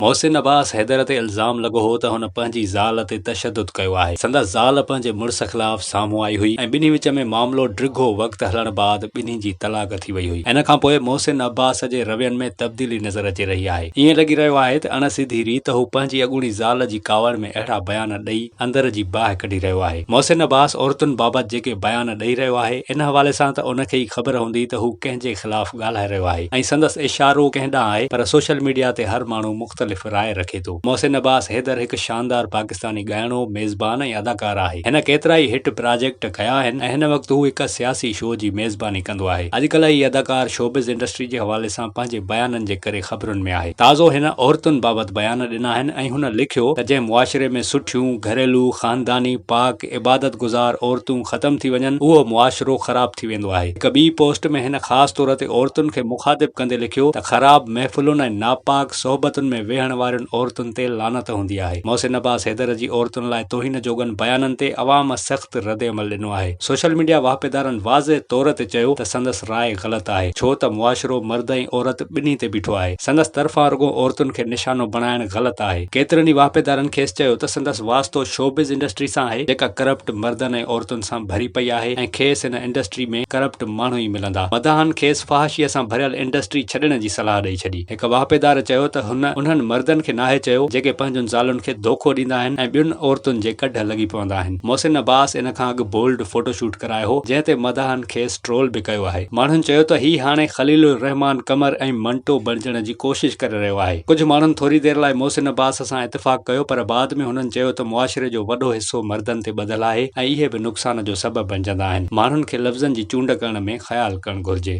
محسن عباس حيدر تي الزام لڳو هو ته هن پنهنجي زال تي تشدد ڪيو آهي. سندس زال پنهنجي مڙس خلاف سامهون آئي هئي ۽ ٻنهي وچ ۾ معاملو ڊگهو وقت هلڻ بعد ٻنهي جي طلاق ٿي وئي هئي. ان کان پوء محسن عباس جي روين ۾ تبديلي نظر اچي رهي آهي. ائين لڳي رهيو آهي ته اڻ سڌي ريت هو پنهنجي اڳوڻي زال جي ڪاوڙ ۾ اهڙا بيان ڏئي اندر جي باهه ڪڍي رهيو آهي. محسن عباس عورتن بابت جيڪي بيان ڏئي رهيو آهي، ان حوالي سان ته ان کي ئي خبر هوندي ته هو ڪنهن جي خلاف ڳالهائي رهيو آهي ۽ سندس اشارو ڪنهن ڏانهن آهي پر سوشل ميڊيا تي هر ماڻهو مختلف راء رکي ٿو. محسن عباس حيدر هڪ شاندار پاڪستاني ڳائڻو، ميزبان ۽ اداڪار آهي. هن ڪيترائي هٽ پراجيڪٽ ڪيا آهن ۽ هن وقت هو هڪ سياسي شو جي ميزباني ڪندو آهي. اڄڪلهه هي اداڪار شوبز انڊسٽري جي حوالي سان پنهنجي بيانن جي ڪري خبرن ۾ آهي. تازو هن عورتن بابت بيان ڏنا آهن ۽ هن لکيو ته جنهن معاشري ۾ سٺيون، گهريلو، خانداني، پاڪ، عبادت گذار عورتون ختم ٿي وڃن اهو معاشرو خراب ٿي ويندو آهي. هڪ ٻي پوسٽ ۾ هن خاص طور تي عورتن کي مخاطب ڪندي لکيو ته خراب محفلن ۽ ناپاڪ صحبتن ۾ ويهڻ وارين عورتن تي لعنت هوندي آهي. محسن عباس حيدر جي عورتن لاء توهين جوڳن بيانن تي عوام سخت ردعمل ڏنو آهي. سوشل ميڊيا واهپيدارن واضح طور تي چيو ته سندس راء غلط آهي ڇو ته معاشرو مرد ۽ عورت ٻنهي تي بيٺو آهي. سندس طرفان رڳو عورتن کي نشانو بڻائڻ غلط آهي. ڪيترن ئي واهپيدارن کيس چيو ته سندس واسطو شوبز انڊسٽري سان آهي جيڪا ڪرپٽ مردن ۽ عورتن سان ڀري پئي آهي ۽ کيس هن انڊسٽري ۾ ڪرپٽ ماڻهو ئي ملندا. مداحن کيس فحاشيء سان ڀريل انڊسٽري ڇڏڻ جي صلاح ڏئي ڇڏي. هڪ واهپيدار چيو ته هن انهن مردن کي ناهي چيو جيڪي پنهنجن زالن کي ڌوڪو ڏيندا آهن ۽ ٻين عورتن جي ڪڍ لڳي پوندا آهن. محسن عباس ان کان اڳ بولڊ فوٽو شوٽ ڪرايو هو جنهن تي مداحن کيس ٽرول به ڪيو آهي. ماڻهن چيو ته هي هاڻي خليل الرحمان قمر ۽ منٽو بڻجڻ جي ڪوشش ڪري رهيو آهي. ڪجهه ماڻهن ٿوري دير لاء محسن عباس سان اتفاق ڪيو پر بعد ۾ هنن چيو ته معاشري جو وڏو حصو مردن تي ٻڌل آهي ۽ اهي به نقصان جو سبب بڻجندا آهن. ماڻهن کي لفظن جي چونڊ ڪرڻ ۾ خيال ڪرڻ گهرجي.